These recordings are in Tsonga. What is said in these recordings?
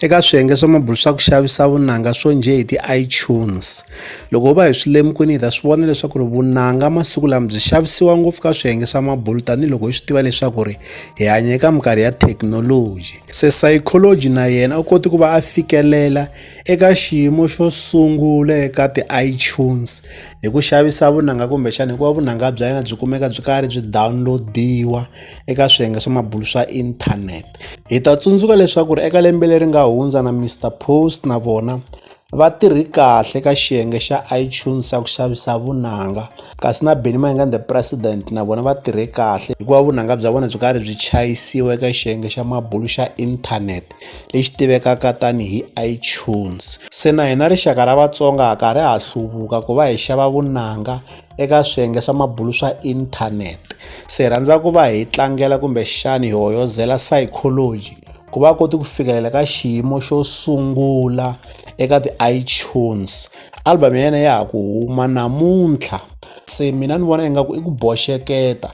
eka swiyenge swa mabulu swa ku xavisa vunanga swo njhe hi ti-itunes loko ho va hi swi lemukini hi ta swi vona leswaku ri vunanga masiku lama byi xavisiwa ngopfu ka swiyenge swa mabulu tanihiloko hi swi tiva leswaku ri hi hanya eka minkarhi ya thekinoloji se psychology na yena u koti ku va a fikelela eka xiyimo xo sungula eka ti-itunes hi ku xavisa vunanga kumbexana hikuva vunanga bya yena byi kumeka byi karhi byi download-iwa eka swiyenge swa mabulu swa inthanete Hi ta tsundzuka leswaku eka lembe leri nga hundza na Mister Post na vona va tirhi kahle ka xiyenge xa iTunes xa ku xavisa vunanga kasi na Benny Mayengani the president na vona va tirhe kahle hikuva vunanga bya vona byi karhi byi chayisiwa eka xiyenge xa mabulu xa internet lexi tivekaka tanihi iTunes se na hina rixaka ra Vatsonga ha karhi ha hluvuka ku va hi xava vunanga. eka swiyenge swa mabulu swa inthanete se hi rhandza ku va hi tlangela kumbexani hi hoyozela psychology ku va koti ku fikelela ka xiyimo xo sungula eka ti-itunes album ya yena ya ha ku huma namuntlha se mina ni vona ingaku i ku boxeketa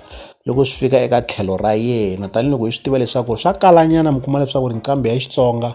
loko swi fika eka tlhelo ra yena tanihiloko hi swi tiva leswaku swa kalanyana mi kuma leswaku ri nqambi ya xitsonga